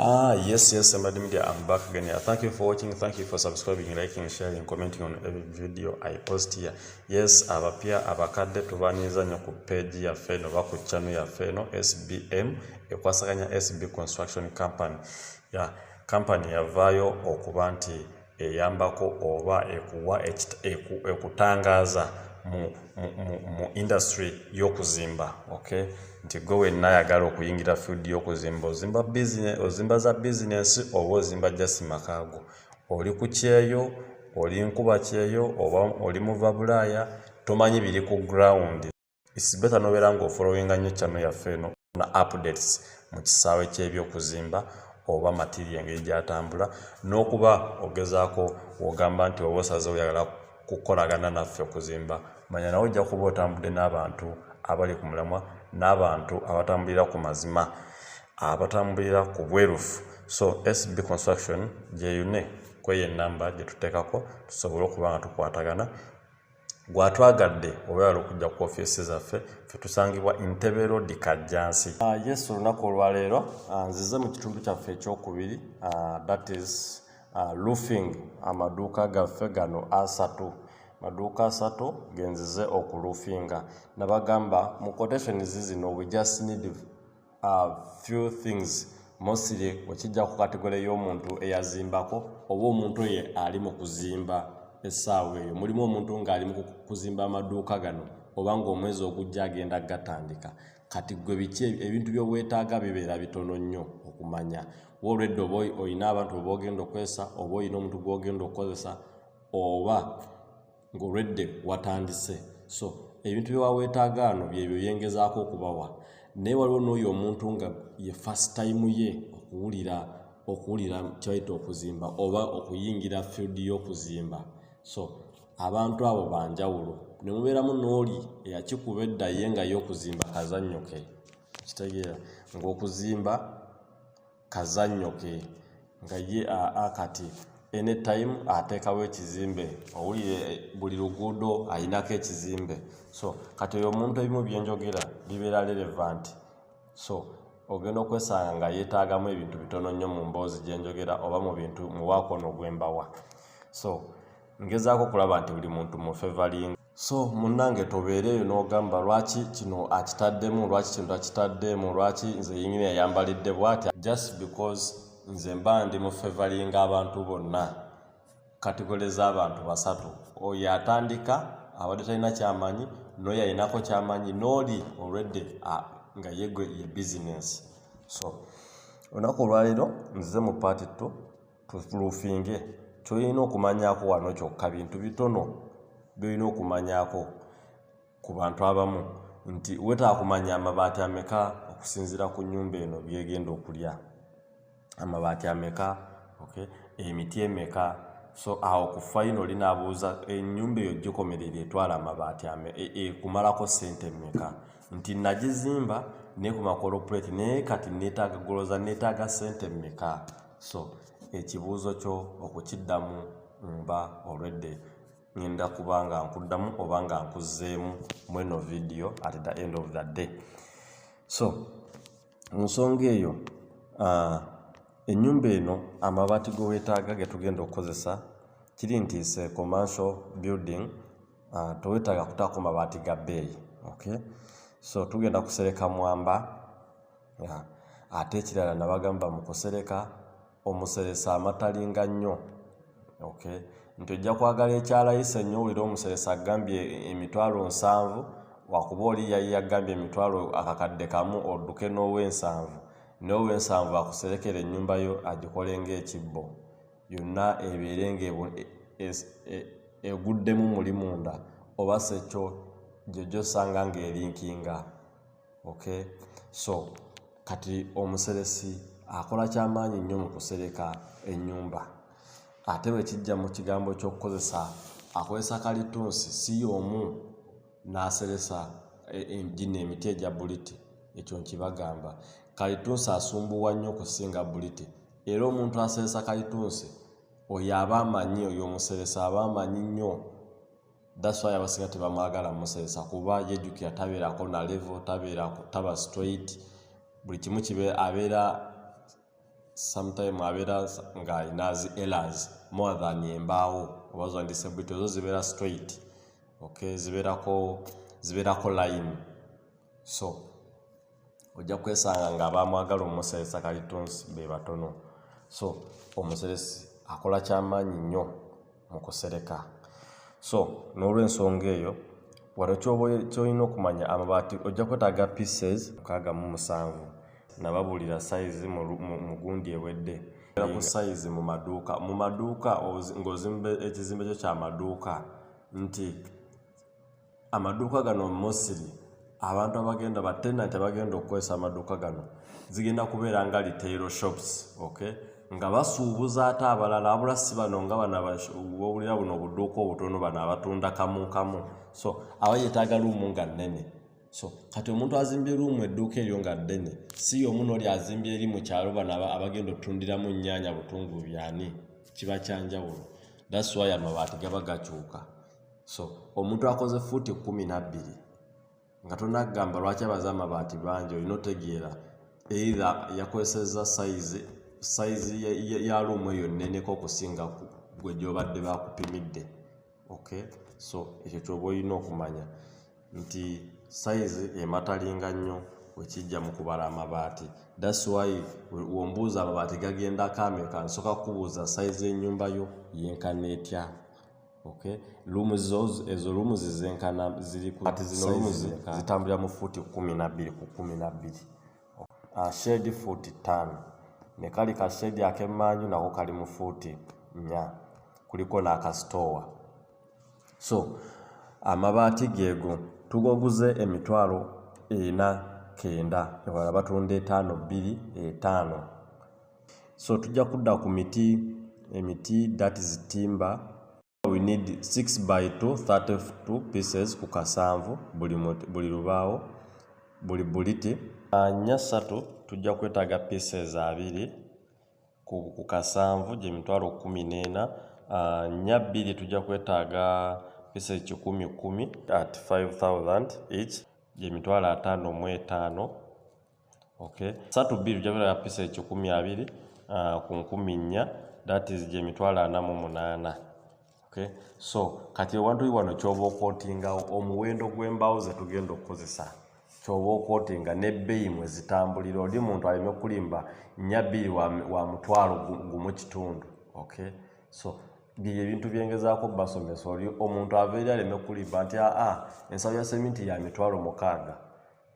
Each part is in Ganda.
Ah, yes, yes, Somebody Media, I'm back again. Yeah, thank you for watching. Thank you for subscribing, liking, sharing, commenting on every video I post here. Yes, abapya abakadde tubanyiza nnyo ku page yaffe eno oba ku channel yaffe eno SBM ekwasaganya SB Construction Company. Yeah, company yavaayo okuba nti eyambako oba ekuwa ekutangaaza mu industry y'okuzimba ok nti gwe wenna ayagala okuyingira field y'okuzimba ozimba business ozimba za business oba ozimba just makaago oli ku kyeyo oli nkuba kyeyo oba oli muva bulaaya tomanyi biri ku ground It's better nobeera nga ofolowinga nnyo channel yaffe eno na updates mu kisaawe ky'ebyokuzimba oba material engeri gyatambula n'okuba ogezaako wogamba nti oba osaze oyagala kukolagana naffe okuzimba manya nawe ojja kuba otambudde n'abantu abali ku mulamwa n'abantu abatambulira ku mazima abatambulira ku bwerufu so sb construction gyeyune kweyo enamba gyetuteekako tusobole okuba nga tukwatagana gwatwagadde owebala okujja ku ofiisi zaffe fetusangibwa entebe rodi kajjansi ah, yes olunaku olwaleero ah, nzize mu kitundu kyaffe ekyokubiri ah, that is loofing amaduuka gaffe gano asatu maduuka asatu genzize okulufinga nabagamba mu quotation zizino we just need uh, few things mostly okijja ku kategole y'omuntu eyazimbako oba omuntu oye ali mu kuzimba essaawa eyo mulimu omuntu ng'ali mu kuzimba amaduuka gano oba ng'omwezi ogujja agenda gatandika kati gwe biki ebintu by'obwetaaga bibeera bitono nnyo okumanya wolwedde oba olina abantu oba ogenda okozesa oba olina omuntu gw'ogenda okukozesa oba ng'olwedde watandise so ebintu bye waweetaagaano byebyo yengezaako okubawa naye waliwo n'oyo omuntu nga ye first time ye okuwulira okuwulira kyaita okuzimba oba okuyingira field y'okuzimba so abantu abo banjawulo ne mubeeramu n'oli eyakikuba edda ye nga ye okuzimba kazannyo ke kitegeera ng'okuzimba kazanyo ke nga ye aa kati anytime ateekawo ekizimbe owulire eh, buli luguudo ayinako ekizimbe so kati oyo omuntu ebimu byenjogera bibeera relevant so ogenda okwesanga nga yetaagamu ebintu bitono nnyo mu mboozi gyenjogera oba mu bintu muwaako ono gwembawa so ngezaako okulaba nti buli muntu mufevalinga so munnange tobeereeyo n'ogamba lwaki kino akitaddemu lwaki kino takitaddemu lwaki nze yingini yayambalidde bwatya just because nze mba ndi mu fevalinga abantu bonna kategole z'abantu basatu oyo atandika abadde talina kyamanyi noyo ayinako kyamanyi nooli olwedde nga yegwe ye bizinensi so olunaku olwaleero nzize mu paati tto tufulufinge kyolina okumanyako wano kyokka bintu bitono byolina okumanyako ku bantu abamu nti wetaba kumanya amabaati ameka okusinzira ku nyumba eno byegenda okulya amabaati ameka okay emiti emeka so awo ku fayino linaabuuza enyumba eyo gikomerera etwala amabaati ame e, e, ekumalako sente emeka nti nagizimba neku makolopuleti naye kati netaaga goloza netaaga sente emeka so ekibuuzo kyo okukiddamu mba olwedde ngenda kuba nga nkuddamu oba nga nkuzzeemu mweno vidiyo at the end of the day so mu nsonga eyo ah, ennyumba eno amabaati ge weetaaga ge tugenda okukozesa kiri nti se commercial building ah, tewetaaga kutaako mabaati ga bbeeyi okay so tugenda kusereka mwamba ate ekirala nabagamba mukusereka omuseresa amatalinga nnyo ok nti ojja kwagala ekyalayisa ennyo owulire omuseresa agambye emitwalo nsanvu wakuba oli yali yagambye emitwalo akakadde kamu odduke n'owensanvu n'owensanvu akuserekera ennyumba yo agikole ngaekibbo yonna ebeere nga e, e, e, eguddemu muli munda oba sekyo gyojosanga ngaerinkinga okay so kati omuseresi akola kyamaanyi nnyo mu kusereka ennyumba ate bwe kijja mu kigambo ky'okukozesa akozesa kalitunsi si y'omu n'aseresa e, e, gino emiti egya buliti ekyo nkibagamba kalitunsi asumbuwa nnyo okusinga buliti era omuntu aseresa kalitunsi oyo aba amanyi oyo omuseresa aba amanyi nnyo that's why abasinga tebamwagala musesa kuba yejukira tabeerako na level tabeera taba straight buli kimu kibe abeera sometime abeera nga inazi elas more than embaawo oba zandise bwit ezo zibeera straight okay zibeerako zibeerako line so ojja kwesanga nga abamwagala omuseresa kalitunsi be batono so omuseresi akola kyamaanyi nnyo mu kusereka so n'olwensonga eyo wano kyolina okumanya amabaati ojja kwetaaga pieces mukaaga mu musanvu nababuulira sayizi mu gundi ewedde ku sayizi mu maduuka mu maduuka ng'ozimba ekizimbe kyo kyamaduuka nti amaduuka gano mosiri abantu abagenda batenanti abagenda okukozesa amaduuka gano zigenda kubeera nga retail shops ok nga basuubuza ate abalala abula si bano nga banabawulira buno obuduuka obutono bano abatunda kamu kamu so aba yetaaga luumu nga nnene so kati omuntu azimbye luumu edduuka eryo nga ddene si yomu nooli azimbye eri mu kyalo bano abagenda otundiramu nnyaanya butungulu byani kiba kyanjawulo that's why amabaati gaba gakyuka so omuntu akoze fuuti kumi nabbiri nga tonagamba lwaki abaze amabaati bangi olina otegeera eitha yakozeseza sayizi sayizi ya luumu eyo neneko okusinga gwe gyobadde bakupimidde ok so ekyo kyoba olina okumanya nti sayizi ematalinga nnyo wekijja mu kubala amabaati thats why wombuuza amabaati gagendako ameka nsoka kukubuuza sayizi enyumba yo yenkana etya okay lumu zozo ezo lumu zizenkana ziri ku ati zino lumu zitambulira mu futi kumi na bbiri ku kumi na bbiri ah, shedi futi ttaano ne kali ka shedi ak'emmanju nako kali mu futi nnya kuliko n'akasitoowa so amabaati geego tugoguze emitwalo ena kenda ewala batunda etaano bbiri etaano so tujja kudda ku miti emiti that is timber we need 6 by 2 32 pieces ku kasanvu buli buli lubaawo buli buliti anya satu tujja kwetaaga pieces abiri ku, ku kasanvu gye mitwalo kumi n'ena nya bbiri tujja kwetaaga pieces kikumi kumi at 5000 each gye mitwalo ataano mu etaano okay satu bbiri ojja beera pisa ekikumi abiri uh, ku nkumi nnya that is gye mitwalo ana mu munaana okay so kati ewantu wano kyoba okotingawo omuwendo gw'embaawo ze tugenda okukozesa kyoba okotinga n'ebbeeyi mwe zitambulira oli muntu aleme kulimba nnya bbiri wa, wa mutwalo gumu kitundu okay so bye ebintu byengezaako basomesa oli omuntu ava eri aleme kulimba nti aa ah, ah, ensabo ya seminti ya mitwalo mukaaga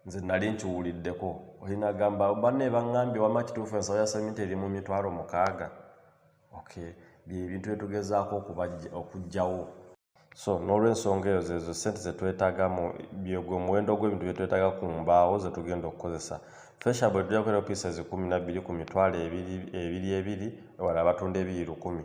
nze nali nkiwuliddeko olinagamba banna ebaŋambye wama kituufu ensawo ya semiti eri mu mitwalo mukaaga ok byebintu byetugezaako okugjawo so n'olwensonga eyo zezo sente zetwetaga mu byegwe omuwendo gw'ebintu byetwetaga ku mbaawo zetugenda okukozesa fesha bwe tujja kukolera opiisa ezikumi nabbiri ku mitwalo ebiri ebiri ewala abatunda ebiri lukumi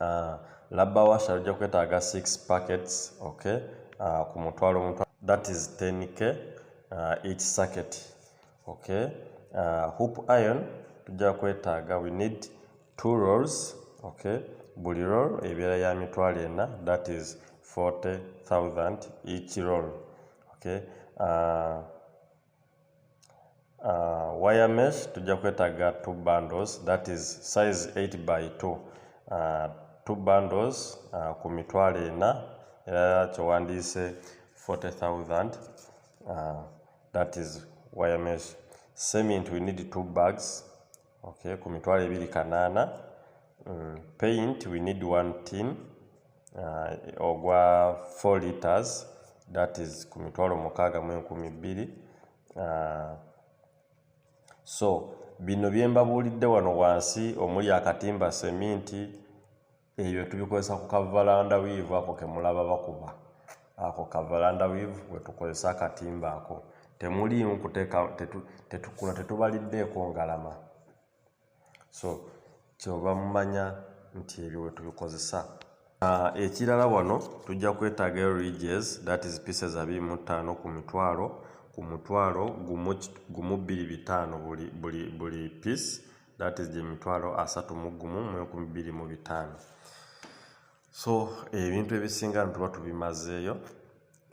Ah, labba washa ojja kwetaaga 6 packets okay ah, ku mutwalo mutwalo that is 10k ah, each circuit okay hoop iron tujja kwetaaga we need two rolls okay buli roll ebeera ya mitwalo ena that is 40000 each roll okay uh, wire mesh tujja kwetaaga two bundles that is size 8 by 2 uh, two bundles uh, ku mitwalo ena era kyewandiise 40000 uh, that is wire mesh cement we need two bags okay ku mitwalo ebiri kanaana mm, paint we need one tin uh, ogwa 4 liters that is ku mitwalo mukaaga mu enkumi bbiri uh, so bino bye mbabuulidde wano wansi omuli akatimba seminti ebyo tubikozesa ku kavalanda wiivu ako kemulaba bakuba ako kavalanda wiivu wetukozesa akatimba ako temuliimu kuteeka tetukuno tetubaliddeeko ngalama so kyoba mumanya nti ebyo wetubikozesa ah, ekirala wano tujja kwetaaga ridges that is pieces abiri mu ttaano ku mitwalo ku mutwalo gumu bbiri bitaano buli piece that is gye mitwalo asatu mu gumu mu enkumi bbiri mu bitaano so ebintu ebisinga no tuba tubimazeeyo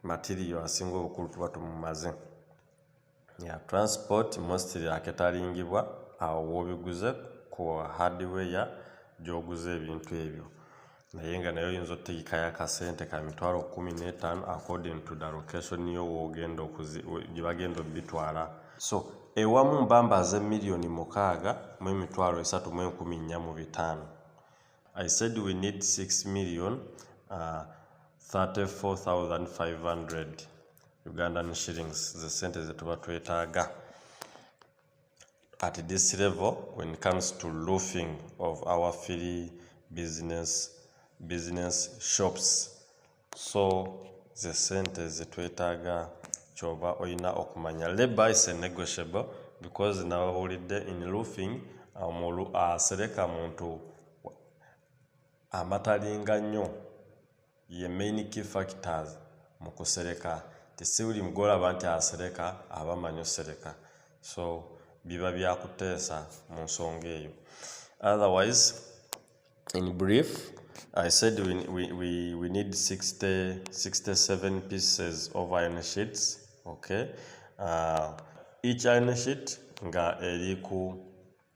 matiriyo asinga obukulu tuba tumumaze ya transport mostly aketalingibwa awo wobiguze ku hardware gyoguza ebintu ebyo naye nga naye oyinza otegekayo akasente ka mitwalo kumi n'etaano according to the location yo wogenda gye bagenda obitwala so ewamu mbambaze miliyoni mukaaga mu emitwalo esatu mu enkumi nnya mu bitaano i said we need 6 million uh, 34500 ugandan shillings ze sente ze tuba twetaaga At this level, when it comes to roofing of our free business, business shops, so the sente zetwetaga kyoba oyina okumanya labor is a negotiable because nawulidde in roofing omulu asereka muntu amatalinga nnyo ye main key factors mu kusereka nti si buli gwolaba nti asereka aba amanyi osereka so biba byakuteesa mu nsonga eyo otherwise in brief i said we, we, we, we need 60, 67 pieces of iron sheets okay uh, each iron sheet nga eri ku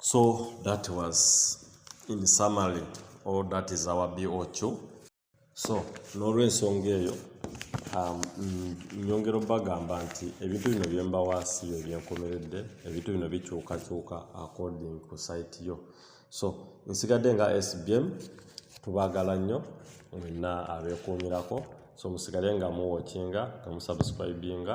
so that was in summary all that is our boq so n'olwensonga eyo um, nyongera obagamba nti ebintu bino byembawaasi yo byenkomeredde ebintu bino bikyukakyuka according ku site yo so nsigadde nga sbm tubagala nnyo mwenna abekuumirako so musigale nga muwokinga nga musubscribinga